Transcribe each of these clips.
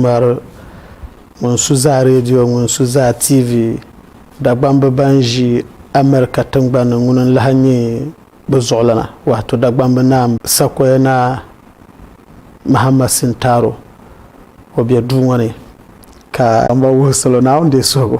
ŋmari, ŋun su zaa redio, ŋun su zaa TV, Dagbamb ban ʒi America tiŋgbani ni ŋuni n-lahi nyɛ bɛ zuɣulana, waato Dagbamb Naa Sakoya Naa Mahama Sintaro, o be duu ŋɔ ni ka. Dagbamba wuhi salo Naawuni deei suhigu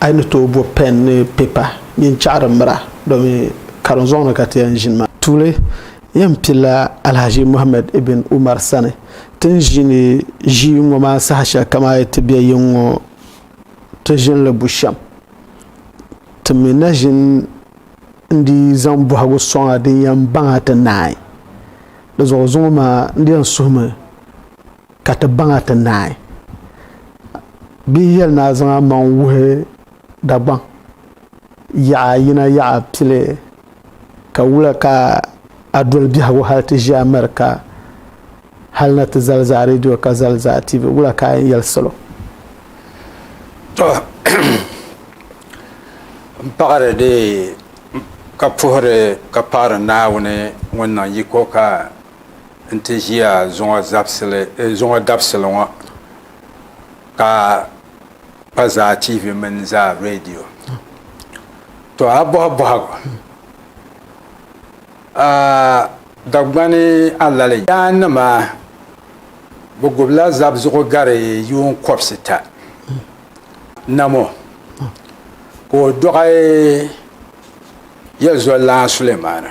A yi ni tooi bo pɛn ni pipa nyin chaɣiri mira domi karim zɔŋ ni ka ti yɛn ʒini maa. Tuuli, Yɛn pilila Alhaji Muhammad Ibn Umar sani. Ti ni ʒini ʒii ŋɔ maa saha shɛli kam a yi ti be yiŋ ŋɔ ti ʒini li bushɛm. Ti mi na ʒini n-dii zaŋ bɔhigu sɔŋ a din yɛn baŋ a ti naai. Di zuɣu zuŋɔ maa n-di yɛn suhimi. ka ti baŋa ti naai. Bɛ yi yɛli ni a zaŋ a maŋ wuhi Dagbaŋ yaɣa yina yaɣa pili ka wula ka a doli biɛhigu hal ti ʒi America hal na ti zali zaa radio ka zali zaa TV, wula ka a yɛn yɛli salo? Tɔ! M paɣiri di ka puhiri ka paɣiri Naawuni ŋun niŋ yiko ka n ti ʒiya zuŋɔ zabisili eh, zuŋɔ dabisili ŋɔ ka pa zaa TV mini zaa radio to a bɔhi bɔhigu a Dagbani Alali yaa nima bi gubila zab zuɣu gari yuun kɔbisi ta namo ka o dɔɣi yɛlzɔlana Sulemaana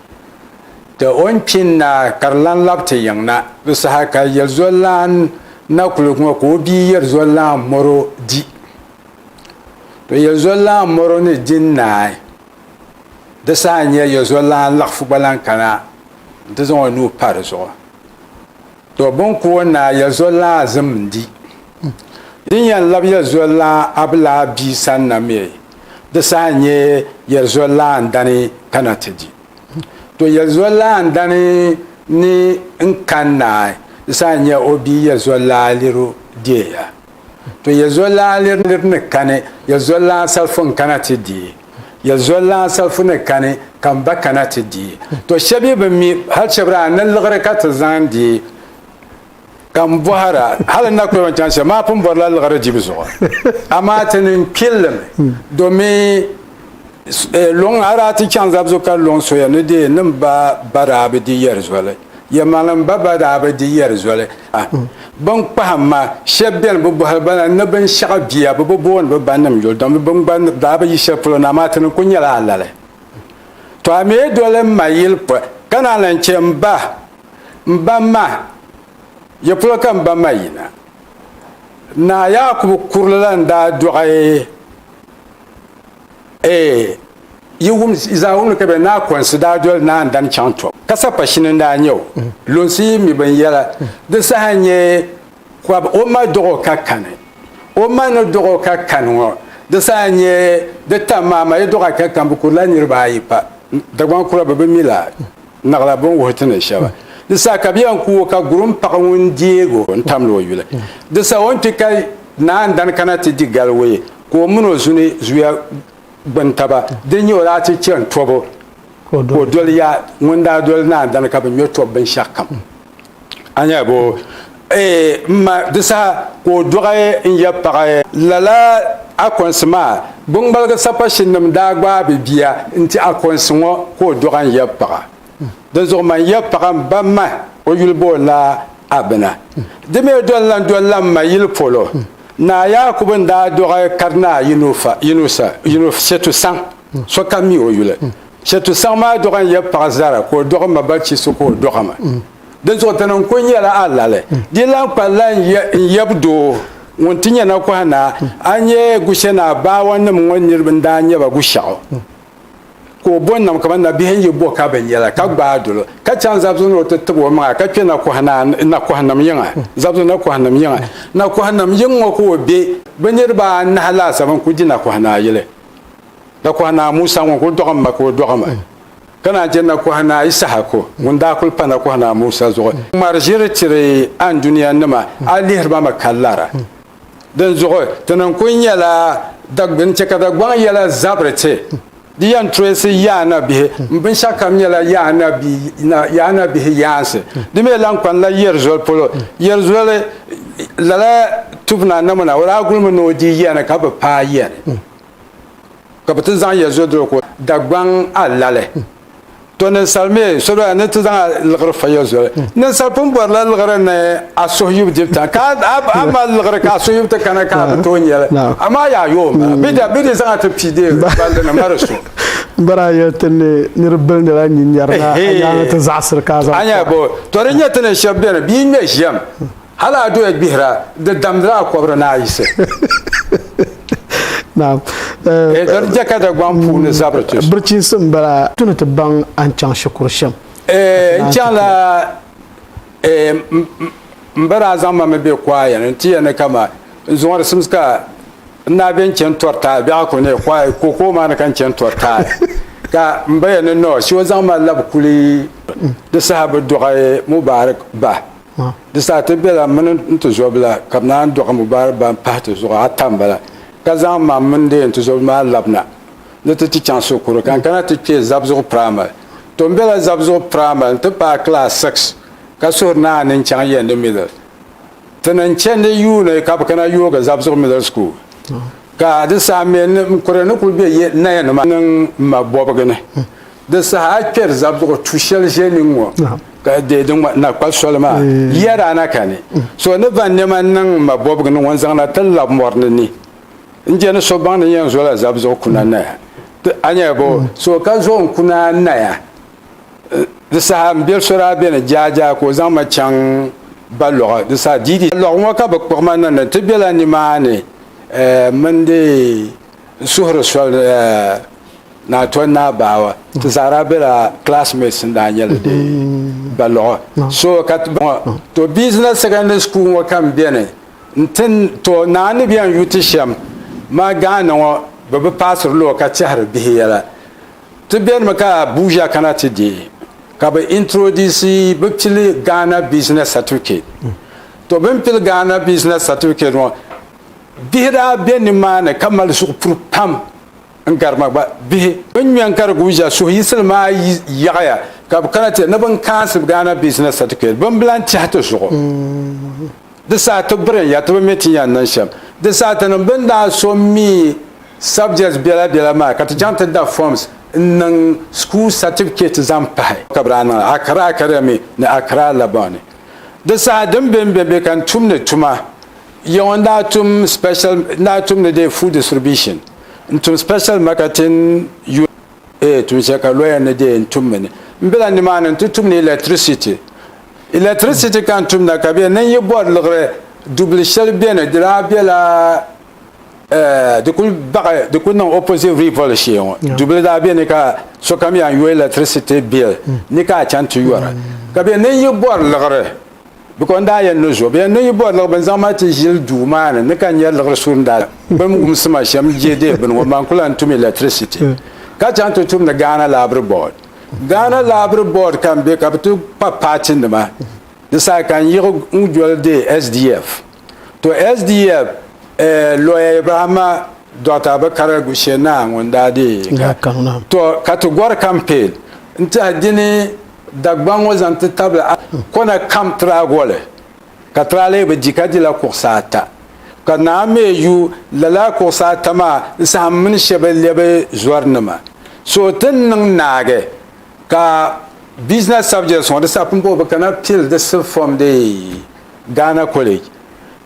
Ti o ni kpi n-naa ka di lan lab ti yiŋ na. Di saha ka Yelzɔllan na kuli ŋɔ ka o bia Yelzɔllan mɔr o di. To Yelzɔllan mɔr o ni di n-naai. Di saha n-nyɛ Yelzɔllan laɣifu gba lan kana nti zaŋ o nuu pa di zuɣu. To bɛn ku o naai ya zual lan azim n-di. Din yɛn lab ya zual lan Abilaa bia sani na mi di saha n-nyɛ ya zual lan dani kana ti di. To ya zual lan dani ni n-kani naai di saha n-nyɛ o bia ya zual lan liri o deei ya. To ya zɔlana nir nir ni kani, ya zɔlana salifu n-kana ti di. Ya zɔlana salifu ni kani, ka m ba kana ti di. To shɛb yi bi mi, hal chɛbiri a ni liɣiri ka ti zaŋ di? Ka m bɔhir a, hal n na kul yɛn chaŋ shɛm, maa pun bɔrila liɣiri dibu zuɣu. Amaa ti ni kpilli mi, domin. Luŋ a daa ti chaŋ zabzu ka luŋ soya ni di nim ba ba daa bi di yɛri zoli. Yɛmaŋlim ba ba daa bi di yɛri zoli. Bin kpahim ma, shɛb beni bi bɔhiri ba na ni bin shɛɣu bia, bi bi booni bi ba nim yuli domi bin gba daa bi yi shɛli polo na amaa ti ni kul nyɛla alali. To a mi doli m ma yili pɔi, ka naan lan chɛ m ba, M ba ma, ya polo ka m ba ma yi na? Naa Yaakubu kurili la n daa dɔɣi. yi wum zaa wumni ka bɛ naa kɔnsi daa doli naa n-dan chaŋ tɔb ka sapashini n-daa nyɛ o. Lunsi yi mi binyɛra di saha n-nyɛ kɔb o ma dɔɣ o ka kani. O ma ni dɔɣ o ka kani ŋɔ di saha n-nyɛ di tam maa ma yi dɔɣ a ka kani bɛ kurila niriba ayi pa Dagbaŋ kura bɛ bi mi la naɣila bɛ ni wuhi ti ni shɛba. Di saha ka bɛ yɛn ku o ka Gurum paɣ ŋun deeg o n-tamdi o yuli. Di saha o ni kpi ka naa n-dan kana ti di galiwee. Ka o min o zuni zuya gbini taba, din nyɛ o daa ti chani tɔbu ka o doli ya ŋun daa doli naan dani ka bi nyɔ tɔbu binshɛɣu kam. A nya bɔ? Ee, m ma, di saha ka o dɔɣi n-ya paɣa. Lala Akɔnsi maa biŋmaligi sapashinnim daa gbaai bɛ bia n-ti Akɔnsi ŋɔ ka o dɔɣi n-ya paɣa. Dinzuɣu man ya paɣa m-ba ma o yuli bo la Abina. Di mi doli lan doli la m ma yili polo. Naa Yaakubu n-daa dɔɣi karinaa yino Shetu Saŋ, sokam mi o yuli. Shetu Saŋ maa dɔɣi n-ya paɣa Zara ka o dɔɣi ma ba Chisu ka o dɔɣi ma. Dinzuɣu ti ni n-kul nyɛla alali. Di lan kpa la n-yab doo ŋun ti nyɛ nakɔha naa, a ni nyɛ Gushɛnaa baawanim ŋɔ niriba n-daa nyɛ ba Gushɛɣu. ka o bo nam kamani nabihi n yi bo ka bi nyɛla ka gbaai dolo ka chaŋ zabisi ni o ti tib o maŋa ka kpɛ nakɔhinim yiŋa zabisi nakɔhinim yiŋa nakɔhinim yiŋ ŋɔ ka o be bi niriba anahi laasabu n-kuli di nakɔhinaa yili nakɔhinaa Musa ŋun kuli dɔɣi ma ka o dɔɣi ma ka naan chɛ nakɔhinaa Isahaku ŋun daa kuli pa nakɔhinaa Musa zuɣu ŋmari ʒiri tiri a ni duniya nima a lihiri ba mi ka lara Dinzuɣu ti ni kuli nyɛla Dagbuni chɛ ka Dagbaŋ yɛla zabiri ti. Di yɛn toyisi yaanabihi m-binshɛɣukam nyɛla yaanabihi yaansi. Di mi lan kpanila Yɛrizoli polo. Yɛrizoli lala tubu na namuna o daa gulimi ni o di yɛni ka bi paai yɛni, ka bi ti zaŋ Yɛrizoli doli ka o Dagbaŋ alali. to ninsal mi sobila ni ti zaŋ a liɣiri fayɔ zoli hmm. ninsal pun bɔrila liɣiri ni a suhi yubu dibu tan ka a mali liɣiri ka a suhi yubu ti kana ka a bi tooi nyɛli amaa yaa yoo ma hmm. bida bidi zaŋ a ti pii dee balli ni mari so bara ya tini niri bil ni la nyin yara na anya ta zaɣsir ka zaɣ anya bo to ri nya tini shab bene bi me jam Hal a doya gbihira, di damdila a kɔbiri ni a yisi. Naam. Eedɔri je ka Dagbaŋ puuni zabiri ti so. Birichinsi m-bala. Ti ni ti baŋ a ni chaŋ shikuru shɛm. Eeh, n chaŋla eeh, m ba daa zaŋ ma mi be kuaya ni nti yɛn ni ka ma n zuŋɔ di simsi ka n daa be n-chani tɔri taai bɛɣu ku ni kuaya kookoo maa ni ka n chani tɔri taai ka m ba yɛn ni nɔɔ shi o zaŋ ma labi kuli di saha bi dɔɣi Mubarak ba. ma. Di saha ti bela mini n tizɔbila ka bɛ naan dɔɣi Mubarak ba m-pahi ti zuɣu ata m-bala, ka zaŋ mam mini deei n tizɔbili maa labina ni ti ti chaŋ Sokoro ka n kana ti kpe Zabzugu Primary. To m bela Zabzugu Primary nti paai class six ka suhuri ni a ni n chaŋ Yendi Middle. Ti ni n chendi yuuni ka bɛ kana yoogi Zabzugu Middle School ka di saha mi m kuri ni kuli be Naya nima niŋ m ma bɔbigi ni. Di saha a kpɛri zabuɣu tu shɛli ʒe ni ŋɔ ka deei di ŋɔ na kpa soli maa yiya daa na kani. So ni va nɛma n-niŋ m ma bɔbigu ni ŋɔ n-zaŋ na ti lab mɔri ni ni n-je ni so baŋ ni yɛn zola zabuzuɣu kuna naya. A nya bɔ? So ka zo n kuna naya di saha m biɛl so daa be ni jaajaa ka o zaŋ ma chaŋ ba lɔɣu di saha diidi lɔɣu ŋɔ ka bɛ kpuɣi ma niŋ ni ti bela nimaani mini di suhuri soli. Naa Tɔn Naa Baawa ti zaa daa bela classmates n-daa nyɛla di ba luɣa. So ka ti bɔŋɔ to Business Secondary School ŋɔ ka m beni nti to naa ni bɛn yu ti shɛm ma Ghana ŋɔ bɛ bi paasiri lɔɔ ka tɛhiri bihi yɛla. Ti benimi ka Abuja kana ti deei ka bɛ introduce bɛ pili Ghana Business Certificate. To bɛ ni pili Ghana Business Certificate ŋɔ bihi daa be nimaani ka mali zuɣupuri pam n gari ma gba bihi bin ŋmɛ n kari guuja suhu yisili maa yaɣaya ka bi kana ti ni bin kaansi Ghana Business Certificate bin bi lan tɛhi ti zuɣu di saha ti biri ya ti bi mi ti yan niŋ shɛm di saha ti niŋ bin daa so mi subjects bɛla bɛla maa ka ti chaŋ ti da forms n niŋ school certificate zaŋ pahi ka bi daa niŋ Accra Academy ni Accra Labour ni di saha din bɛnbɛ bɛ ka n tumdi tuma Yiɣu n daa tum special n daa tumdi de food distribution n tum special marketing unit ee tum shɛli ka lawyer ni de n tum mi ni n bɛ la nimaani n ti tumdi electricity electricity ka n tumda ka bɛ ni n yi bɔri liɣiri dubili shɛli bɛ ni di daa bɛ la eh, di kuli baɣi di kuli niŋ opposite rivoli shee ŋɔ dubili daa bɛ ni ka sokam yaa n yo electricity bill ni ka a chaŋ ti yɔra ka bɛ ni n yi bɔri liɣiri Biko n daa yɛn lo zuɣu, bɛ yɛn lo yi bɔri liɣi bini zaŋ mali ti ʒili duu maa ni, ni ka nya liɣiri su n daa gbim wumsi ma shɛm je deei bini ŋɔ, man ku lan tum electricity ka chaŋ ti tumdi Ghana Library Board. Ghana Library Board ka n be ka bɛ ti kpa paatinima di saha ka n yiɣi n doli deei SDF. To SDF eh, lawyer Ibrahima Dr. Abakar Gushe Naa ŋun daa deei ka to ka ti gɔri campaign n tiɛhi dini Dagbaŋ ŋɔ zaŋ ti tabili a kɔna kam tiraagoli ka tira lee bi di ka dila kuɣusi ata ka naa mi yu lala kuɣusi ata maa n sahim mini shɛba lɛbi zɔri nima so ti ni niŋ naagi ka business subjects ŋɔ di saha pun bɔbi kana pili di sub form dee. Ghana College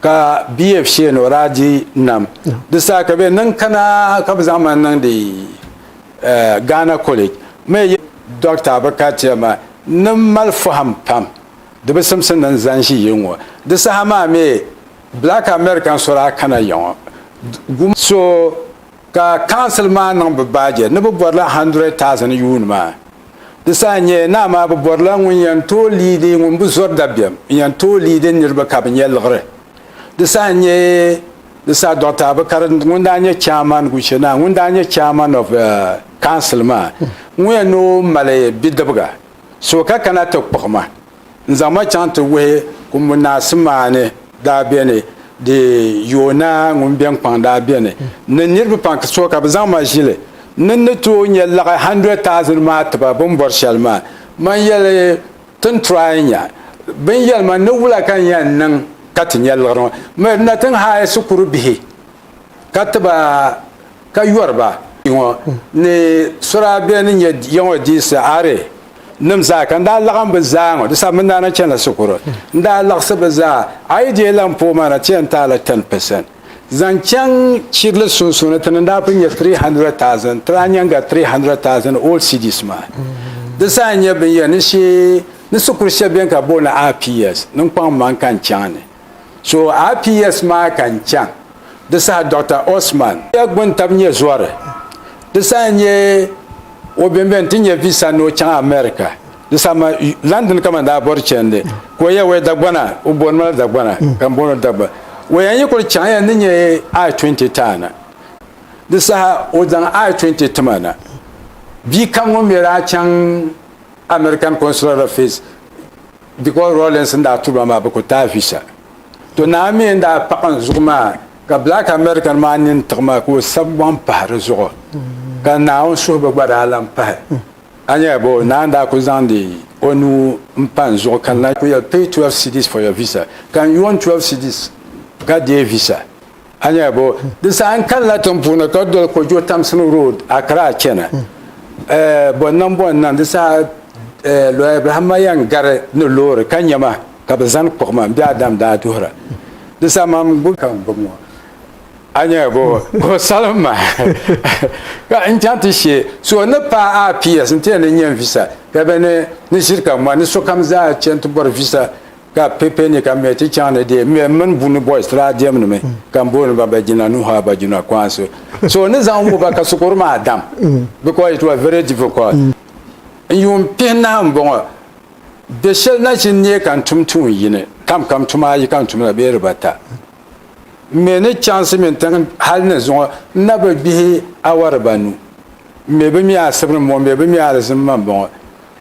ka BF Sheno daa di nam di saha ka bɛ niŋ kana ka bɛ zaŋ ma niŋdi Ghana College mi yɛli Dɔkta Abakar Tiama ni mali fahim pam di bi simsi ni n zani ʒi yi ŋɔ di saha maa mi Black American so daa kana ya ŋɔ guma so Ka council maa niŋ bɛ baajɛ ni bɛ bɔrila hundred thousand yuun maa. Di saha n-nyɛ naa maa bɛ bɔrila ŋun yɛn tooi liidi ŋun bi zɔri dabiɛm n-yɛn tooi liidi niriba ka bɛ nyɛ liɣiri. Di saha n-nyɛ di saha Doctor Abukari ŋun daa nyɛ chairman Guche naa ŋun daa nyɛ chairman of council maa ŋuya ni o mali bidibiga so ka kana ti kpuɣi ma. N zaŋ ma chaŋ ti wuhi kumbu naa Simaani daa beni, di yooi naa ŋun beni kpaŋ daa beni ni niriba pam so ka bɛ zaŋ ma ʒili n ni ni tooi nya laɣi hundred thousand maa ti ba bini bɔri shɛli maa. Man yɛli ti n try nya bini yɛli ma ni wula ka n yɛn niŋ ka ti nya liɣiri ŋɔ. Mirina ti n hire shikuru bihi. Ka ti ba, ka yɔri ba. Ŋɔ ni suraa bɛ ni nyɛ ya ŋɔ diisi are nim zaa ka n daa laɣim bɛ zaa ŋɔ di sabimi n daa na chani la shikuru n daa laɣisi bɛ zaa a yi dee lan puhi ma na ti yɛn taai la 10 percent zaŋ chaŋ chirili sunsuuni ti ni daa pun nyɛ 300,000 ti daa nyɛŋ ga 300,000 old cedis maa di zaa n nyɛ bin yɛn ni shee ni shikuru shɛli bɛni ka boli ni RPS ni n kpaŋ maŋ ka n chaŋ ni So RPS maa ka n chaŋ di saha Dɔkta Osman. Ya gbuni tabi nyɛ zɔri. Di saha n nyɛ o bɛmbɛ nti nyɛ visa ni o chaŋ America. Di saha ma London ka man daa bɔri chandi ka o ya waya Dagbana o bɔni ma la Dagbana ka m bɔni o Dagba. O ya n yi kuli chaŋ ya ni nyɛ I-20 ti a na. Di saha o zaŋ I-20 ti ma na. Bia kam ŋun mi daa chaŋ American Consular Office. Dikɔɔ Rawlings n daa turi ba maa bɛ ku taai visa. To naa mi n daa paɣi n zuɣu maa ka Black American maa nini tiɣi ma ka o sabi gbaŋ pahi di zuɣu ka Naawuni suhibu gba daa lan pahi. A nya bɛ o naa n daa ku zaŋdi o nuu n pa n zuɣu ka na ku yɛli, Pay twelve cedis for your visa. Ka n yoon twelve cedis ka deei visa. A nya bo? Di saha n kanila tiŋ puuni ka doli Kojo Tamsin Road, Accra chana. Eh, bɔnnan bɔnnan di saha eh, Lawyer Ibrahim Mayan gari ni loori ka nya ma ka bɛ zani kpuɣi ma m-be Adam daa duhira. Di saha mam gbubi ka m gbubi ŋɔ. A nya bo? Ka o salim ma ka n chaŋ ti she so ni paai a PS nti yɛn ni nya n visa ka bɛ ni ni ʒiri ka mɔni ni sokam zaa chani ti bɔri visa. Ka pe pe ni ka mɛ ti chaŋ ni dee mɛ mini buni boys ti daa diɛm ni mi ka m booni ba ba jina nuhu a ba jina kwansi so ni zaŋ wuhi ba ka sukuru maa dam because it was very difficult n yuun pihi nahi m bɔŋɔ bɛ shɛli nachin neei ka n tum tuun yini kam kam tuma ayi ka n tumda bee dibata m mɛ ni chaŋsi mini tiŋ hali ni zuŋɔ n na bi gbihi awa dibanu m mɛ bi mi asibiri m bɔŋɔ m mɛ bi mi alizim ma m bɔŋɔ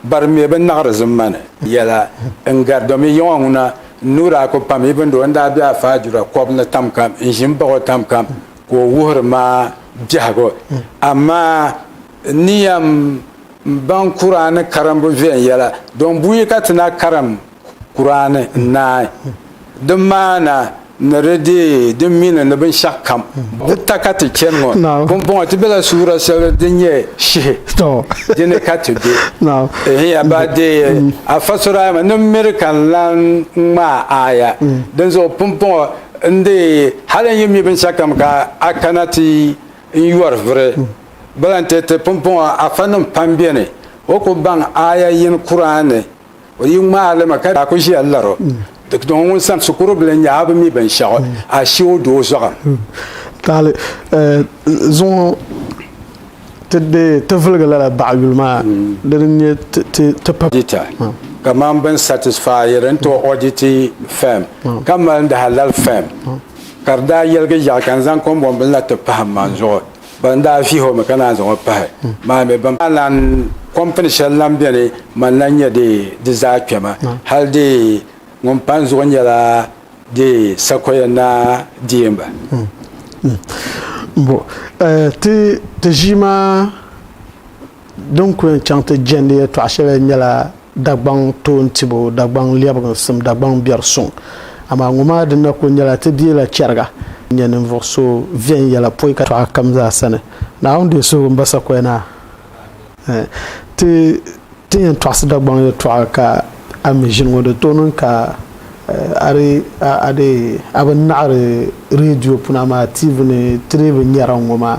Bari mɛ bi naɣiri zim ma ni. Yɛla, N gari domi yiŋɔ ŋuna n-nuhi daa ku pam Ibn doo n-daa be a faajura kɔbu ni tam kam, n ʒi m-baɣ o tam kam ka o wuhiri ma biɛhigu. Amaa n ni yɛn baŋ Kur'aani karimbu viɛnyɛla, dɔn buyi ka ti na karim Kuraani n-naai di maana ni di deei di mini ni binshɛɣukam di ta ka ti chani ŋɔ pumpɔŋɔ ti bela suura shɛli din nyɛ Shihi di ni ka ti be. Ehiya ba deei Afa Surayma ni miri ka n-lan ŋmaai aaya dinzuɣu pumpɔŋɔ n-deei hali n yi mi binshɛɣukam ka a kana ti n yɔri vuri ba la n-ti ti pumpɔŋɔ Afanim pam beni o ku baŋ aaya yini Kuraani O yi ŋmaai li ma ka daa ku ʒiya lar o, di dɔŋ ŋun sani shikuru bila n-nyɛ a bi mi binshɛɣu, a shi o doo zuɣu. Taali zuŋɔ ti deei ti viligi lala baɣa yuli maa di ni nyɛ ti pa. Dita kaman bɛn satisfaayi din ti ɔditi fɛm ka mali n di halal fɛm ka di daa yɛligi yaɣi ka n zaŋ kɔmbɔnbili na ti pahim man zuɣu. Ban daa vihi o mi ka naan zaŋ o pahi maa mi, ban daa lan kɔmpini shɛli lan beni man la n-nyɛ di di zaa kpɛma, hal di ŋun pa n zuɣu nyɛla di sakoya naa deemba. Mbo ti ʒii maa. Din ku yɛn chaŋ ti jɛndi yɛltɔɣa shɛli nyɛla Dagbaŋ toon tibu, Dagbaŋ lɛbiginsim, Dagbaŋ biɛri suŋ. Amaa ŋɔ maa di na kuli nyɛla ti bia la chɛriga. Nyɛ ninvuɣ so viɛnyɛla pɔi ka tɔɣa kam zaa sani. Naawuni deei suhigu m-ba sakoya na. Ti tin yɛn tɔɣisi Dagbaŋ yɛltɔɣa ka a mi ʒini ŋɔ, di tooi niŋ ka a di a dee a bi naɣiri reediyo puni amaa TV ni ti dii bi nyara ŋ-ŋɔ maa.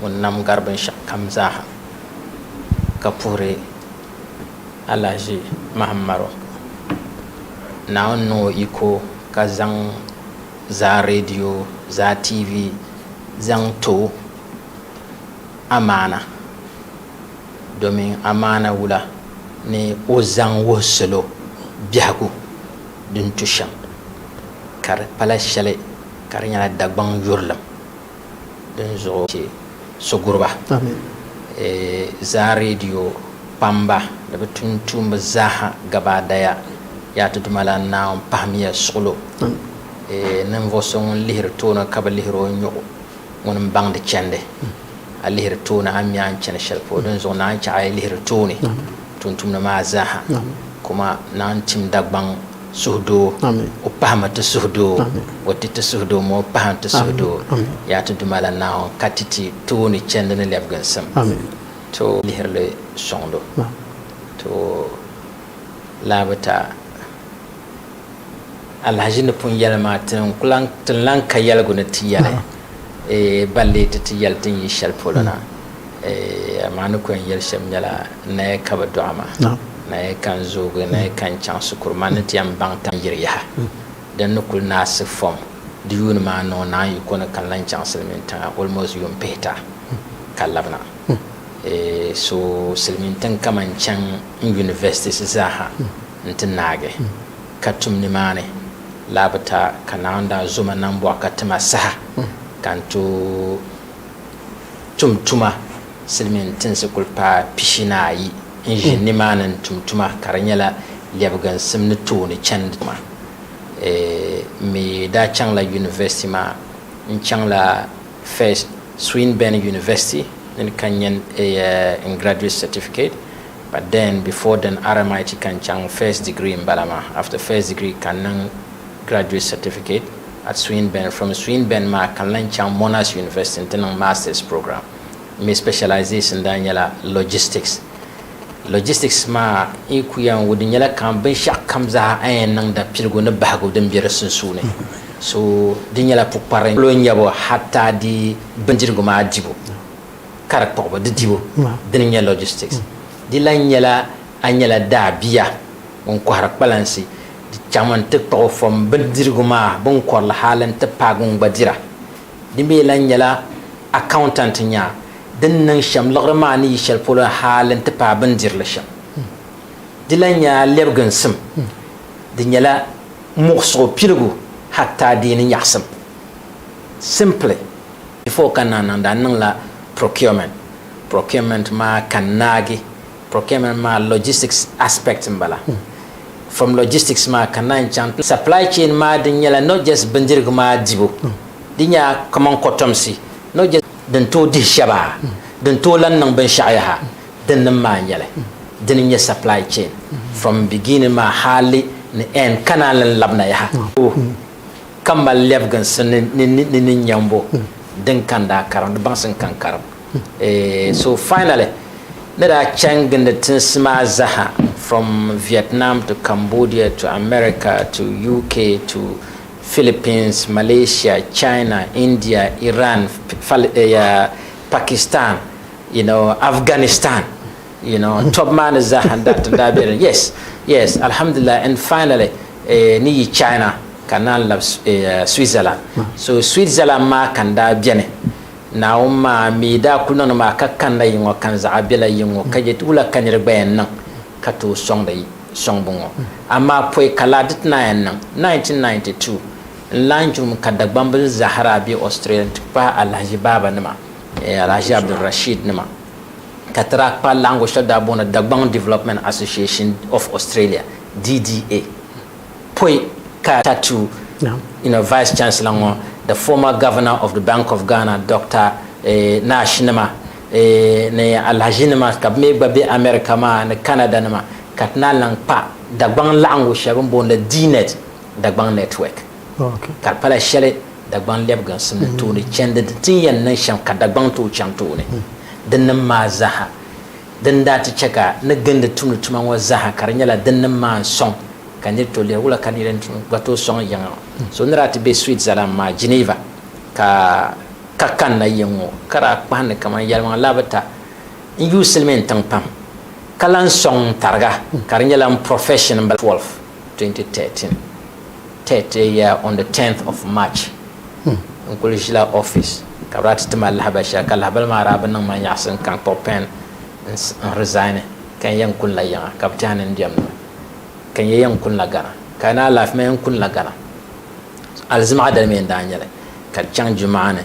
ŋun nam gari binshɛɣukam zaaha ka puhiri alahiʒi Mahammaro. Naawuni niŋ o yiko ka zaŋ zaa reediyo, zaa TV zaŋ ti o amaana domin amaana wula ni o zaŋ wuhi salo biɛhigu din tu shɛm ka di pala shɛli ka di nyɛla Dagbaŋ yurilim. dinzuɣu ka chɛ so guri ba zaa reediyo kpamba ni bɛ tuuntumbi zaaha gabaadaya. Yaa ti Dumalana Naawuni, pahimiya suɣilo ninvuɣ so ŋun lihiri tooni ka bi lihir o nyuɣu, ŋun m-baŋdi chɛndi. A lihiri tooni, a mi a ni chani shɛli polo. Dinzuɣu naanyi chɛ a yi lihiri tooni tuuntumdi maa zaaha, kumaa naanyi tim Dagbaŋ. Suhudoo, O pahi ma ti suhudoo, O ti ti suhudoo ma O pahi n ti suhudoo, Yaa ti Dumalana Naawuni ka ti ti tooni chɛndi ni lɛbiginsim, to lihiri li sɔŋdo, to lahabita alahiʒi ni pun yɛli maa, ti n lahi ka yɛligu ni ti yɛli. Ban lee ti ti yɛli din yi shɛli polo na, amaa ni ku yɛn yɛli shɛm nyɛla, Naya ka bɛ dɔɣi ma, naya ka n zoogi, naya ka n chaŋ shikuru, man ni ti yɛn baŋ tam yiri yaha. Din ni kul naɣisi fom di yuuni maa niŋ naan yi kɔni ka n lan chaŋ silimiintiŋa almost yuun pihita ka labina. So silimiintiŋ kaman chaŋ n universities zaa ha nti naagi. Ka tum nimaani laa bi ta ka Naawuni daa zo ma nambɔɣu ka ti ma saha ka n tooi tum tuma. Silimiin tinsi kuli paai pishinaayi n-ʒi nimaani n-tum tuma ka di nyɛla lɛbiginsim ni tooni chandi tuma. M mi daa chaŋla yunivɛsiti maa. N chaŋla first Swinburne University ni ka n nya n graduate certificate. But then before then RMIT ka n chaŋ first degree n bala maa, after first degree ka n niŋ graduate certificate at Swinburne, from Swinburne maa ka n lan chaŋ Monash University n ti niŋ masters program, n mi specialization daa nyɛla logistics. Logistics maa n yi ku yan wudi nyɛla kamani binshɛɣu kam zaa a yɛn niŋda piligu ni bahigu din be di sunsuuni, so di nyɛla pukpari polo n nyɛbo hatta di bindirigu maa dibu. ka di kpuɣibu di dibu dini nyɛ logistics di lahi nyɛla a nyɛla daa bia ŋun kɔhiri kpalansi di chaŋmi n ti kpuɣi fom bindirigu maa bin kɔrili hali n ti paagi ŋun gba dira di mi lahi nyɛla accountant nya din niŋ shɛm liɣiri maa ni yi shɛli polo hali n ti paai bin dirili shɛm di lahi nyɛ a lɛbiginsim di nyɛla muɣisigu piligu hatta deeni nyaɣisim. Simply, before ka naa niŋda n niŋla procurement. Procurement maa ka n naagi. Procurement maa logistics aspect n bala. From logistics maa ka naan chaŋ ti supply chain maa din nyɛla not just bindirigu maa dibu, di nya kaman kotomsi, not just. Din tooi dihi shɛba, din tooi lan niŋ binshɛɣu yaha, dinnim maa n-nyɛ li. Dini n-nyɛ supply chain from beginning maa hali ni end ka naan lan labina yaha. ka mali lɛbiginsi ni ni nyambo din kan daa karim, di baŋsim kan karim. So finally, ni daa chaŋ gindi tinsi maa zaha from Vietnam to Cambodia to America to UK to Philippines, Malaysia, China, India, Iran, Pakistan, you know, Afghanistan. you know n tɔb maa ni zaaha n daa ti daa be din yes yes alhamdulillah and finally eh, ni yi China ka n naan lab eh, Switzerland so Switzerland maa ka n daa beni naawuni maa mi daa kuli niŋdi maa ka kanna yi ŋɔ ka n zaɣa bela yi ŋɔ ka je ti wula ka niri gba yɛn niŋ ka tooi sɔŋdi yi sɔŋbu ŋɔ amaa pɔi ka laa di ti naan yɛn niŋ 1992 n lan jurum ka Dagbambil zaaha daa be Australia n ti pahi Alahaji Baaba nima eh, Alahaji Abdul Rashid nima ka ti daa kpa laɣingu shɛli daa booni Dagbaŋ Development Association of Australia, DDA, pɔi ka Tatu Vice Chancellor ŋɔ, the former Governor of the Bank of Ghana Dr Nash nima ni Alhaji nima ka bɛ mi gba be America maa ni Canada nima ka ti naan lahi kpa Dagbaŋ laɣingu shɛli bɛ ni booni li DNet, Dagbaŋ Network. Ka di pala shɛli Dagbaŋ lɛbiginsi ni tooni chɛndi di ti ni yɛn niŋ shɛm ka Dagbaŋ tooi chaŋ tooni dinnim maa zaaha. Dini daa ti chɛ ka ni gindi tumdi tuma ŋɔ zaaha ka di nyɛla dinnim maa n-sɔŋ ka nir tooi lihiri wula ka nir yɛn gba tooi sɔŋ yiŋa. So ni daa ti be Switzerland maa, Geneva, ka ka kanna yiŋ ŋɔ ka daa kpahindi kaman yɛlimaŋli laa bi ta n-yuui silimiin tiŋ pam ka lan sɔŋ n-tariga ka di nyɛla n profession m-bala, Feb. 12, 2013. Tet ya on the tenth of March n kuli ʒila office ka bɛ daa ti ti ma lahabali shɛli ka lahabali maa daa bi niŋ ma nyaɣisi n kan kpuɣi pen n resign ka n yɛn kuni la yiŋa ka bɛ tɛha ni n diɛm ni ka n yɛ yɛn kuni la Ghana ka ni alaafee ma yɛn kuni la Ghana alizimaɣa dali mi n daa nyɛli ka di chaŋ jumaani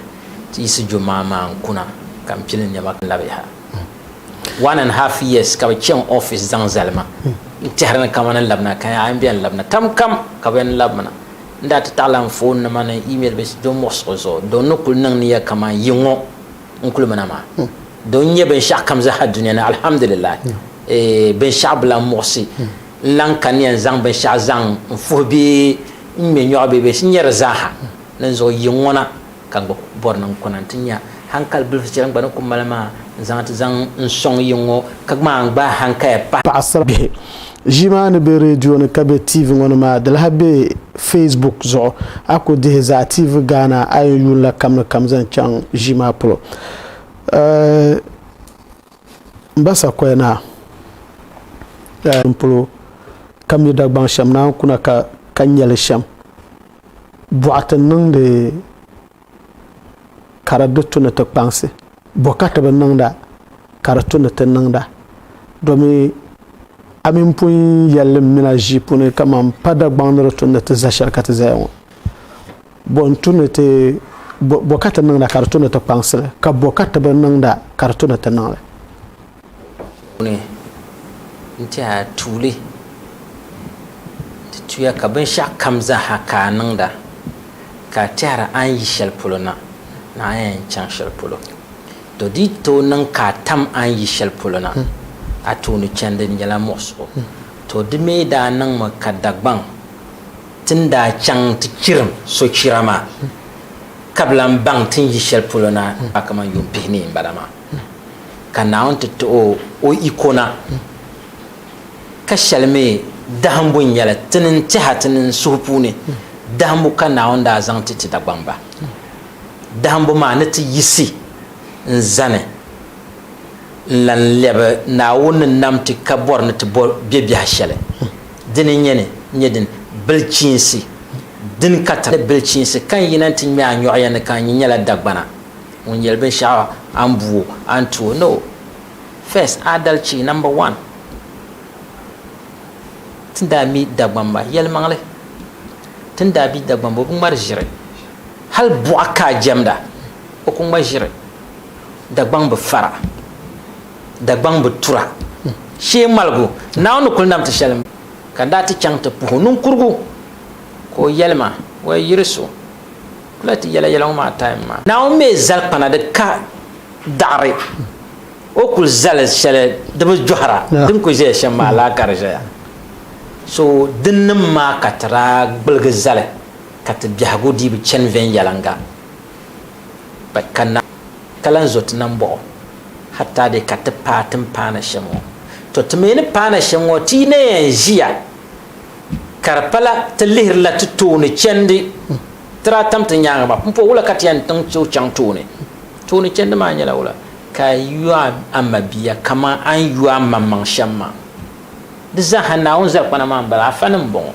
ti yiɣisi jumaa maa n kuna ka m pili niɛma ka n labi yaha. one and half years ka bi chaŋ office zaŋ zali ma n tɛhiri ni kamani n labina ka a yɛn bɛni labina kam kam ka bɛni labina n daa ti taɣila n foon nima ni email bɛ do muɣisigu zuɣu do ni kuli niŋ niya kaman yiŋɔ n kuli mina maa do n nyɛ binshɛɣu kam zaha dunia ni alhamdulillah eh, binshɛɣu bila n muɣisi n lan ka ni yɛn zaŋ binshɛɣu zaŋ n fuhi bee n ŋme nyɔɣu bee bɛ nyɛri zaaha ninzuɣu yiŋɔ na Ka n gba bɔri ni n kuna nti nya hankali bilifu shɛli n gba ni ku mali maa n-zaŋ ti zaŋ n-sɔŋ yiŋ ŋɔ, ka gmaai n gbaai hankaya pahi. Paɣisiri bihi ʒii maa ni be redio ni ka be TV ŋɔ ni maa di lahi be Facebook zuɣu. A ku dihi Zaa TV Ghana a yɛn yuun la kam ni kam zaŋ chaŋ ʒii maa polo. M ba Sakoya Naa n polo ka mi Dagbaŋ shɛm naan kuna ka nya li shɛm. Bɔɣati niŋdi ka di di tu ni ti kpaŋsi, bɔkati bi niŋda ka di tu ni ti niŋda, domi a mi pun yɛlli m-mina ʒii puuni kaman pa Dagbaŋ ni di tu ni ti za shɛli ka ti zaya ŋɔ. Bɔ n-tu ni ti, bɔ, bɔkati niŋda ka di tu ni ti kpaŋsi li, ka bɔkati bi niŋda ka di tu ni ti niŋ li. puuni n-ti a tuuli nti tuya ka binshɛɣu kam zaa ha ka a niŋda ka a tɛhiri a ni yi shɛli polo na ni a yɛn chaŋ shɛli polo. Tɔ! Di yi tooi niŋ ka a tam a ni yi shɛli polo na, a tooni chani di nyɛla muɣisigu. Tɔ! Di mi daa niŋmi ka Dagbaŋ ti ni daa chaŋ nti chirim sochira maa ka bi lan baŋ ti ni yi shɛli polo na, a kamani yuun pihi ni yi m-bala maa. Ka Naawuni ti ti o o iko na, ka shɛli mi dahimbu n-nyɛ li, ti nini tɛha ti nini suhu puuni, dahimbu ka Naawuni daa zaŋ ti ti Dagbamb ba. Dahimbu maa ni ti yiɣisi n-zani n-lan lɛbi Naawuni ni nam ti ka bɔri ni ti bɔ bɛ biɛha shɛli dini n-nyɛ ni nyɛ din bilichiinsi dini ka ti ni bilichiinsi ka n yina nti ŋmɛ a nyɔɣu ya ni ka n nyi nyɛla Dagbana. Ŋun yɛli binshɛɣu a ni bu o, a ni ti o, no. First, adalci, number one. Ti ni daa mi Dagbamba yɛlimaŋli, ti ni daa bi Dagbamba o bi ŋmari ʒiri. Hali buɣa ka a jɛmda, o ku ŋma ʒiri. Dagbaŋ bi fara, Dagbaŋ bi tura. Shee ŋmaligu Naawuni ni kuli nam ti shɛli m-bala, ka n daa ti chaŋ ti puhi o niŋkurugu ka o yɛli ma, Wɛi yiri so, Kula ti yɛla yɛla ŋɔ maa time maa. Naawuni mi zali kpana di ka daɣiri, O kul zali shɛli di bi jɔhira, din kul ʒeya shɛm maa laa ka di ʒeya. So dinnim maa ka ti daa gbiligi zali ka ti biɛhigu dii bi chani viɛnyɛliŋga pa ka na, ka lan zo ti nambɔɣu hatta dee ka ti paai timpaana shɛm ŋɔ. Tɔ! Ti mi ni paai na shɛm ŋɔ ti yi na yɛn ʒiya Ka di pala ti lihirila ti tooni chɛndi ti daa tam ti nyaaŋa maa pumpɔŋ wula ka ti yɛn tiŋ ti o chaŋ tooni? Tooni chɛndi maa nyɛla wula? Ka a yu a mabia kaman a ni yu a maŋmaŋ shɛm maa. Di zaaha Naawuni zalikpana maa m-bala, afa ni m-bɔŋɔ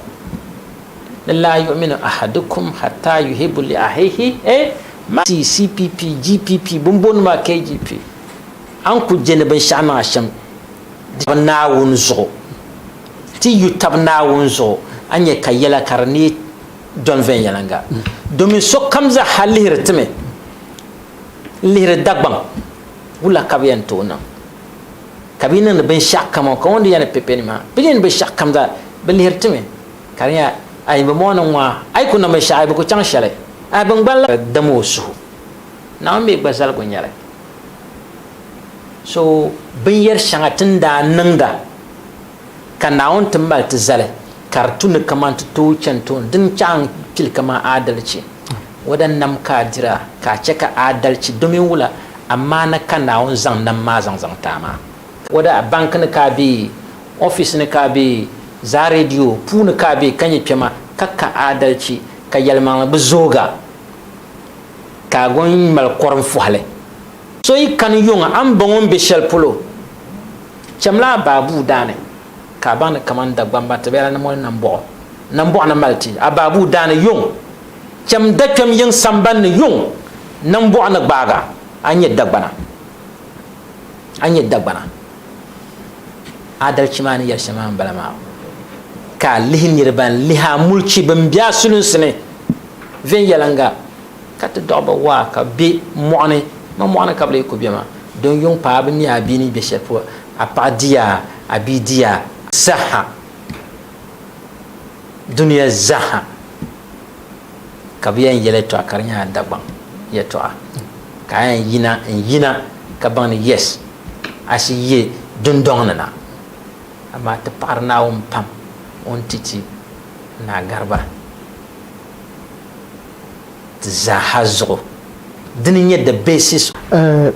ni laa yu'minu ahadukum hatta yuhibu li ahihi eh ma CCPP, GPP, bɛ ni booni maa KGP, a ni ku je ni binshɛɣu niŋ a shɛm di bi Naawuni zuɣu. Ti yu tab Naawuni zuɣu, a nya ka yɛla ka di neei dɔni viɛnyɛliŋga, domin sokam zaɣa lihiri ti mi n-lihiri Dagbaŋ wula ka bɛ yɛn tooi niŋ, ka bɛ yi niŋdi binshɛɣu kam o, ka o ni di yɛn ni pe peni maa, bɛ ni yɛn binshɛɣu kam zaa, bɛ lihiri ti mi, ka di nya, Ai bɛ mɔɣu ni ŋɔ ha, a yi ku niŋ binshɛɣu a yi bi ku chaŋ shɛli, a bi ŋgbani la. Dama o suhu, Naawuni mi gba zaligu nyɛli so binyɛr shɛŋa ti ni daa niŋda. Ka Naawuni ti mali ti zali ka di tu ni kaman ti tooi chani tooni, dini chaɣ n kpili kaman aadalichi. Wada nam ka a dira ka a chɛ ka aadalichi domin wula amaana ka Naawuni zaŋ nam maa zaŋ zaŋ ti a maa? Wada a banki ni ka a be, ɔfis ni ka a be, zaa redio puuni ka a be ka nyɛ kpɛma ka ka aadalichi ka yɛlimaŋli bi zoogi a, ka a gɔn mali kɔrim fɔhili. So yi kani yuŋ a ni bɔŋɔ n be shɛli polo, chamila a baabuu daa ni, ka a baŋ ni kaman Dagbamba ti be a ni moli Nambɔɣu, Nambɔɣu ni mali ti a baabuu daa ni yuŋ. Cham dakpɛm yiŋ samban ni yuŋ, Nambɔɣu ni gbaag a, a nyɛ Dagbana. A nyɛ Dagbana. Aadalichi maa ni yɛli shɛm maa m-bala maa, ka a lihi niriba n-lihi a mulichi bɛn be a sulinsi ni viɛnyɛliŋga. Ka ti dɔɣi ba waa ka bɛ be mɔɣuni, ma mɔɣuni ka bɛ lee ku be maa, don yuŋ paai bɛ mi a bia ni be shɛli polo, a paɣa di a, a bia di a. Zahha, dunia zahha, ka bɛ yɛn yɛli yɛtɔɣa ka di nyɛla Dagbaŋ yɛtɔɣa, ka a yɛn yina n-yina ka baŋ ni yes, a shi yi dundɔŋ ni na. Amaa ti paɣiri Naawuni pam o ni ti ti Naa Gariba. ti zaaha zuɣu. Dini n-nyɛ the basis of.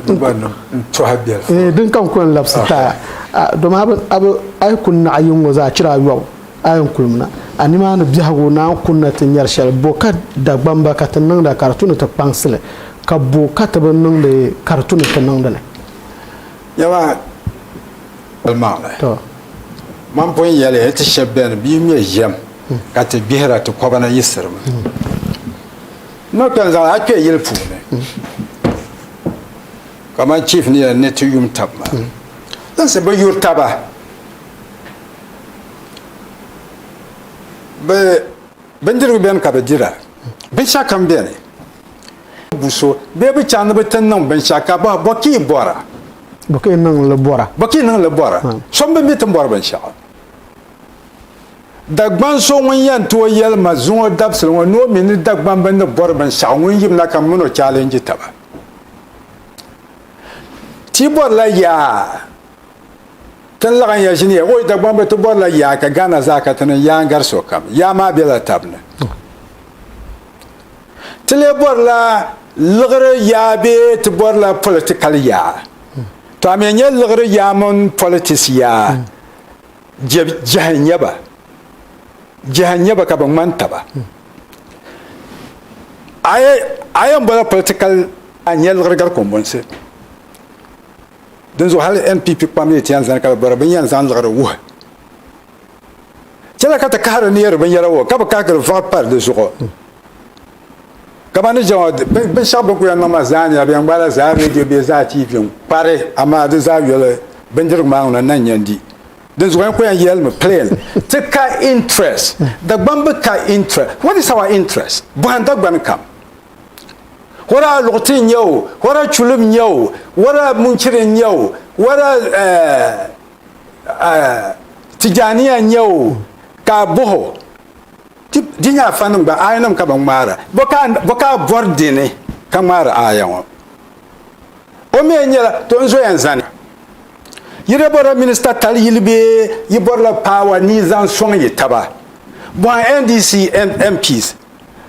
Di gba niŋ n-tɔhi bɛlifu. Eeh dini ka n kuli labisi taai a domi a bi a bi a yi kuni naɣi yiŋ ŋɔ zaa chira ayɔbu a yɛn kulimina a nimaani biɛhigu ni a ni kunina ti nyari shɛli bo ka Dagbamba ka ti niŋda ka di tu ni ti kpaŋsi li ka bo ka ti bi niŋdi ka di tu ni ti niŋdi li? Nyama. Kpalimaŋli, Mam pun yɛli ya ti shɛb bɛn bi yi ŋme yɛm ka ti gbihira ti kɔba na yiɣisirimi. N ni kpɛn zaŋ a kpe yili puuni kaman chief ni yɛli ni ti yum tab maa. Tinsi bi yuri taba. Bɛ bindirigu bɛni ka bɛ dira. Binshɛɣukam bɛni. bu so bee bi chaŋ ni bi ti niŋ binshɛɣu ka bɔhi, Bɔ ka yi bɔra? Bɔ ka yi niŋ li bɔra? Bɔ ka yi niŋ li bɔra? So m-bi mi ti bɔri binshɛɣu. Dagbaŋ so ŋun yɛn tooi yɛli ma zuŋɔ dabisili ŋɔ ni o mi ni Dagbaŋ bini ni bɔri binshɛɣu ŋun yimina ka min o challenge taba. Ti bɔrila yaa ti ni laɣinya ʒini ya, oi Dagbamb ti bɔrila yaa ka Ghana zaa ka ti niŋ yaa n-gari sokam. Yaa maa bela tab ni. Ti lee bɔrila liɣiri yaa bee ti bɔrila politikal yaa? Tɔ a mi n-nyɛ liɣiri yaa mini politisi yaa, je jɛhi n-nyɛ ba. Jɛhi n-nyɛ ba ka bɛ ŋmani taba. A yi a yɛn bɔla politikal a ni nyɛ liɣiri gari kɔmbonsi. Dinzuɣu hali NPP kpam yi ti yɛn zani ka bɛ bɔra bɛ ni yɛn zaŋ liɣiri wuhi. Chɛla ka ti kahiri neeri binyɛra ŋɔ ka bi kahi giri vaɣi pari di zuɣu. Kamani jɛma binshɛɣu bin ku yɛn niŋ maa zaa nyɛla bɛ yɛn gbaala zaa redio bee zaa TV n-kpari amaa di zaa yoli bindirigu maa ŋuna n-na n-yɛn di. Dinzuɣu n ku yɛn yɛlimi plain ti ka interest. Dagbani bi ka interest. What is our interest? Bɔhim Dagbani kam. Whether Aluɣiti n-nyɛ o, whether Chulim n-nyɛ o, whether Munchiri n-nyɛ o, whether eh, tijaniya n-nyɛ o ka a bɔh o di nyɛ afanim gba ayanim ka bɛ ŋmaara bɔ ka a bɔri di ni ka ŋmaari aya ŋɔ o mi nyɛla to n zoya zani yi daa bɔrila minista tali yili bee yi bɔrila paawa ni yi zaŋ sɔŋ yi taba bɔhim NDC MPs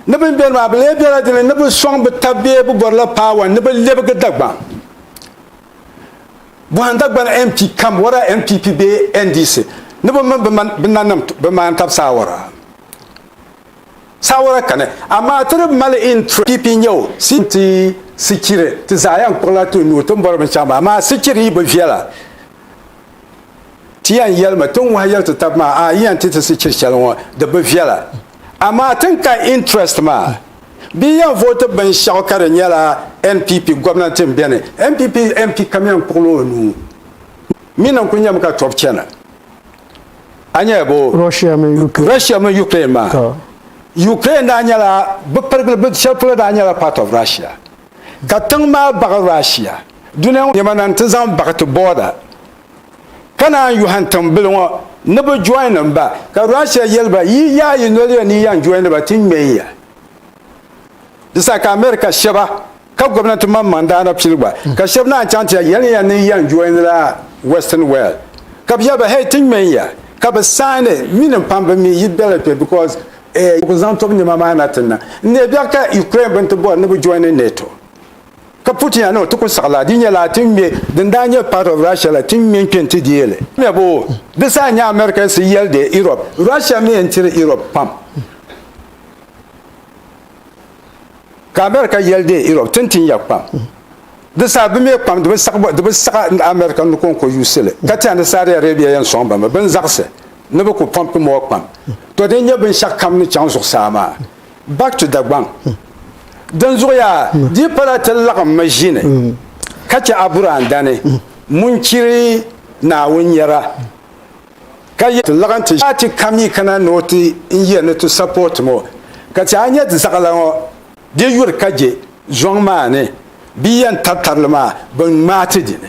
ni bɛ ni beni maa bɛ lee bela di ni ni bɛ sɔŋ bɛ taba bee bɛ bɔrila paawa ni bɛ lebigi Dagbaŋ Bɔhim Dagbani MP kam wara NPP bee NDC ni bɛ mini bɛ nanim bɛ maani tab saawara. Saawara kani, amaa ti di mali interest. PP n-nyɛ o, CPM n-ti Sikiri. Ti zaa yɛn kpuɣila ti nuu tin bɔri binshɛɣu maa, amaa Sikiri yi bi viɛla, ti yɛn yɛlimi tin wahi yɛli ti tab maa, a yi yɛn ti ti Sikiri shɛli ŋɔ, di bi viɛla. Amaa tin ka interest maa bɛ yɛn vote binshɛɣu ka di nyɛla NPP gomnanti n beni NPP MP kam yɛn kpuɣila o nuu mi ni n kuli nyɛmi ka tobu chana a nyɛla bo Russia mini Ukraine maa Ukraine daa nyɛla bɛ pirigili shɛli polo daa nyɛla part of Russia ka tiŋ maa baɣi Russia duniya ŋɔ nɛma na n ti zaŋ baɣi ti border ka naan yɔhim tiŋbili ŋɔ ni bɛ join ba, ka Russia yɛli ba yi yaai yi noli ya ni yi yan join ba ti ŋmɛ ya. Di saha ka America shɛba ka gomnanti maŋmaŋ daa na pili gba, ka shɛba naan chaŋ ti ya yɛli ya ni yi yan join la Western world, ka bɛ yɛli ba hei ti ŋmɛ ya, ka bɛ sign it, mi ni pam bɛ mi yi bela kpe because bɛ ku zaŋ tobu nɛma maa na ti niŋ. N neebiɛɣu ka Ukraine bini ti bɔri ni bɛ join NATO. Ka Putin no ti ku saɣi la, di nyɛla ti ni ŋme, din daa nyɛ part of Russia la, ti ni ŋme n-kpe n-ti deei li. Mɛbu, Di saha n-nyɛ America si yɛli deei Europe. Russia mi yɛn tiri Europe pam. Ka America yɛli deei Europe ti ni tin ya kpam. Di saha bɛ me kpam, di bi saɣi America ni kɔŋko yuusi li. Ka ti a ni Saudi Arabia yɛn sɔŋ ba mi, bɛ ni zaɣisi ni bɛ ku pɔmpi mɔɣu kpam. Tɔ din nyɛ binshɛɣu kam ni chaŋ zuɣusaa maa. Back to Dagbaŋ. Dinzuɣuya di pala ti laɣim maʒini ka chɛ Aburaandani ŋun chiri Naawuni nyara ka yɛli ti laɣim ti ʒiya ti ka mi kana ni o ti n yɛli ni ti support ma o. Ka ti a nya di zaɣila ŋɔ di yuri ka je zɔŋ maa ni bɛ yɛn tari tarili maa bɛ ŋmaai ti dini.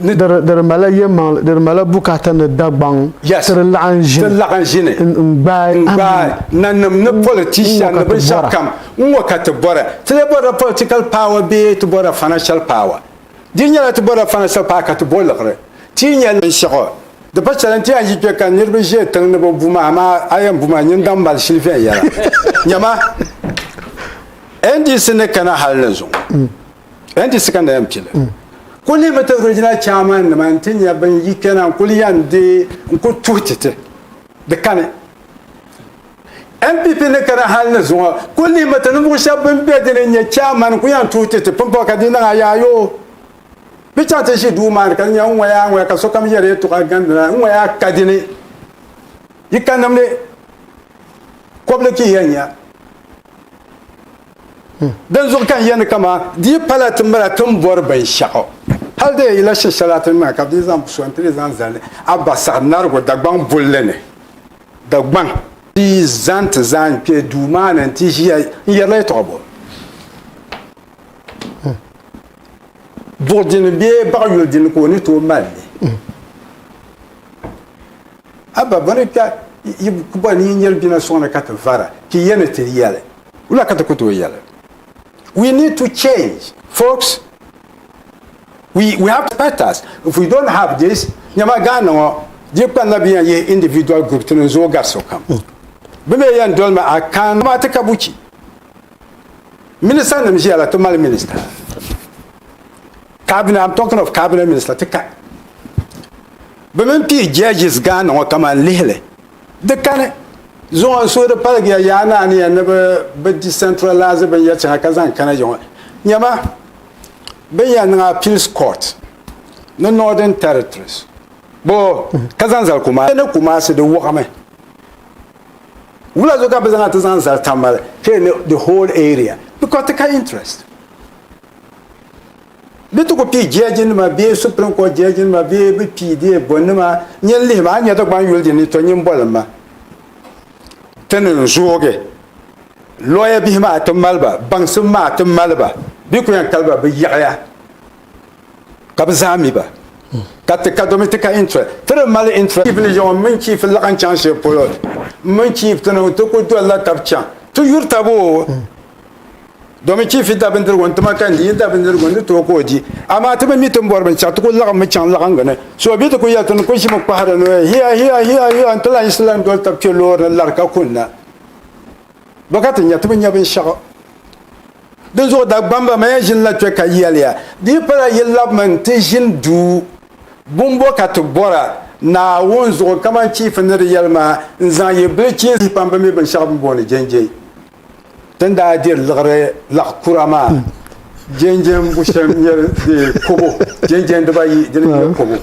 di di mala yɛmaŋli di di mala bukata ni dagbaŋ Yes. ti di laɣan ti ʒini laɣan ʒini n n gbaai n gbaai nanim ni N politician ŋɔ ni ka ti binshɛɣu bɔra. kam n ŋɔ ka ti bɔra ti lee bɔrila political power bee ti bɔrila financial power di nyɛla ti bɔrila financial power ka ti bo liɣiri ti yi nya binshɛɣu di pa shɛli n ti yɛn yi kpɛ ka niriba ʒe tiŋ ni bɛ bu ma amaa a yɛn bu ma n nyin daŋ mali shili viɛnyɛla nyama NDC ni kana hali ni zuŋɔ N ti sikandi ya m-pili. Kul ni mi ti Regional Chairman nima nti nya bɛn yi kpɛna n kul yan deei n kul tuhi ti ti di kani. NPP ni kana hal ni zuŋɔ kul ni mi ti ninvuɣ shɛb bɛn be di ni n-nyɛ Chairman n kul yan tuhi ti ti pumpɔŋ ka di niŋ a yaayoo. Bɛ chaŋ ti ʒi duu maa ni ka di nya n ŋɔya a ŋɔya ka sokam yɛri yɛltɔɣa gandina n ŋɔya a ka di ni. Yi ka nimdi kɔbili ka yi yan nya. Dinzuɣu ka n yɛli ni kaman di yi pala ti mira ti ni bɔri binshɛɣu, hal di yɛn yila shɛshɛli a ti ni mira ka bɛ dii zaŋ so n-ti li zaŋ zali a ba saɣinarigu Dagbaŋ bulli ni. Dagbaŋ. Di yi zani ti zaa kpe duu maa ni nti ʒiya, n yɛrila yɛtɔɣa bɔ? Buɣ dini bee baɣ yuli dini ka o ni tooi mali li? Abba, bɔ ni kpɛ yi ku boli ni yi nyɛri bina suŋ ni ka ti vara, ti ya ni ti yɛli. Wula ka ti ku tooi yɛli? We need to change, folks. We, we have to fight us. If we don't have this, nyama Ghana ŋɔ, di kpanila bɛ yan yihi individual group ti niŋ zooi gari sokam. Bɛ mi yan dolimi a kan amaa ti ka buchi. Minister nim ʒiya la ti mali minister. Cabinet, I'm talking of cabinet minister ti ka bɛ mini pii judges Ghana ŋɔ kaman lihili di kani zuɣu n suhiri paligiya yaa ni a ni yɛn ni bɛ bɛ decentralise binyɛri chaŋa ka zaŋ kana yiŋɔ nyɛma bɛ ni yɛn niŋ appeals court ni northern territories boo ka zaŋ zali Kumasi ni Kumasi di wuɣimi wula zuɣu ka bɛ zaŋ a ti zaŋ zali Tamale kpee ni the whole area because ti ka interest Di ti ku pii jɛji nima bee Supreme Court jɛji nima bee bi pii dee bɔ nima nyin lihi ma a nya Dagbani yuli di ni to nyin boli ma ti ni n zoogi lawyer bihi maa ti mali ba baŋsim maa ti mali ba bi ku yan kali ba bi yiɣiya ka bi zaa mi ba ka ti ka domi ti ka interest ti di mali interest chief ni yaŋɔ mini chief laɣin chaŋ shɛli polo mini chief ti niŋ ti ku dolila tab chaŋ ti yuri taboo. domin chief da bindirigu n ti ma ka n di yin da bindirigu n di tooi ka o di amaa ti bi mi ti ni bɔri binshɛɣu ti ku laɣimmi chaŋ laɣingu ni so bi ti ku yɛli ti ni ku ʒimi kpahiri ni hiya hiya hiya hiya n ti lan yiɣisi lan doli tab kpe loori ni lari ka kunna ba ka ti nya ti bi nya binshɛɣu din zuɣu Dagbamba maya ʒinila kpɛ ka yɛliya di yi pala yi labimi n ti ʒini duu bumbo ka ti bɔra Naawuni zuɣu kamani chief ni di yɛli maa n zaŋ yi bilichiinsi pam bi mi binshɛɣu bini booni jɛnjɛi Ti ni daa diri liɣiri laɣ kura maa, jɛnjɛn bu shɛm n-nyɛ di kobo, jɛnjɛn dibayi dini n-nyɛ kobo.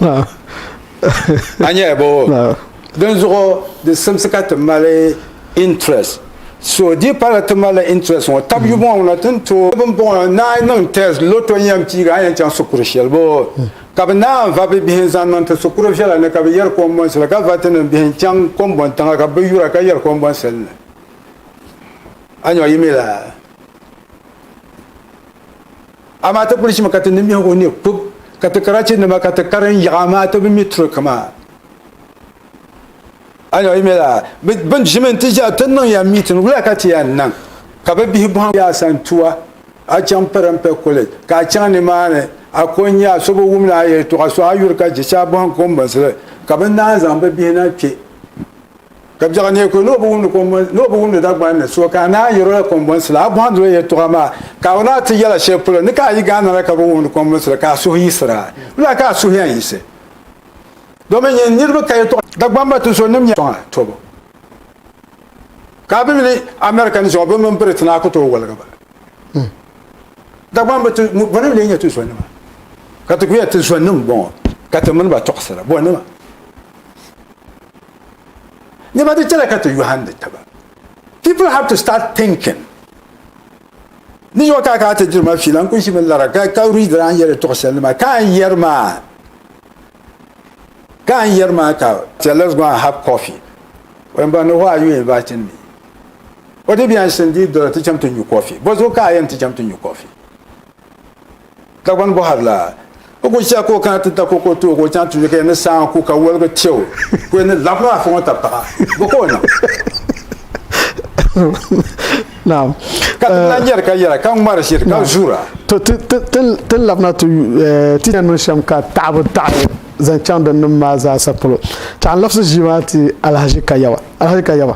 A nyɛla bo? Dinzuɣu di simsi ka ti mali interest. So di pala ti malila interest ŋɔ tab yuma ŋɔ na ti ni tooi bini bɔŋɔ naai n niŋ test, lotto n yɛn piigi a ni yɛn chaŋ shikuru shɛli bo ka bɛ naai va bɛ bihi n-zaŋ niŋ ti shikuru viɛla ni ka bɛ yɛri kɔmbɔnsi la ka va ti nimbihi n-chaŋ kɔmbɔntiŋa ka bɛ yura ka yɛri kɔmbɔnsi li ni. a nyɔ yi mi la amaa ti kuli chimi ka ti nimbihi o ni kub ka ti karachi nima ka ti karin yaɣa amaa ti bi mi turi kama a nyɔ yi mi la bin ʒimi ti ʒiya ti niŋ ya miitin wula ka ti ya niŋ ka bi bihi bɔhim ya san tuwa a chaŋ pɛrimpɛ college ka a chaŋ ni maa ni a ko n nya so bi wum ni a yɛltɔɣa so a yuri ka jicha bɔhim ko n binsili ka bi naan zaŋ bi bihi na kpe Ka biɛɣu neei ko ni o bi wumdi kɔmbɔnsi ni o bi wumdi Dagbani ni so ka a naan yɛr o la kɔmbɔnsi la, a bɔhindi o yɛltɔɣa maa ka a wuna a ti yɛla shɛli polo ni ka a yi ga a nana ka bi wumdi kɔmbɔnsi la ka a suhu yiɣisir a. Lala ka a suhu yɛn yiɣisi domin nyin niriba ka yɛltɔɣa Dagbani maa tinsuɣu nim nyɛla sɔŋa tɔbu ka a bi mini America ni zuɣu bɛ mini Britain a ku tooi waligi ba. Dagbani bi ti bɔ ni n-lee nyɛ ti zɔnima ka ti ku yɛli ti zɔnnim m-bɔŋɔ ka ti mini ba tɔɣisira bɔnima. Nɛma di chɛla ka ti yɔhindi taba. People have to start thinking. Ni yɔh ka ka ti diri ma fiila n-kuli ʒimi lara ka ka read la n yɛli tuɣi shɛli nima ka n yɛri maa ka n yɛri maa ka tell us go and have coffee. When ba no who are you inviting me? What if yan shindi dɔla ti cham ti nyu coffee? Bɔzuɣu ka a yɛn ti cham ti nyu coffee? Dagbani bɔhiri la, o ku chɛ ka o kana ti da ka o ka o tooi ka o chaŋ tuuli ka yɛn ni saa ŋɔ ku ka woligi chɛ o ka o yɛn ni labigi afa ŋɔ tabi paɣa. Bɔ ka o niŋ? Naam. Ka ti lahi nyari ka yɛra, ka ŋmari ʒiri, ka zuura. To, ti, ti, ti, ti ni labina ti, eh, ti yɛn niŋ shɛm ka taɣibu taɣi zaŋ chaŋ din niŋ maa zaasa polo. Tɛha n labisi ʒii maa ti Alahaji Kayawa. Alahaji Kayawa.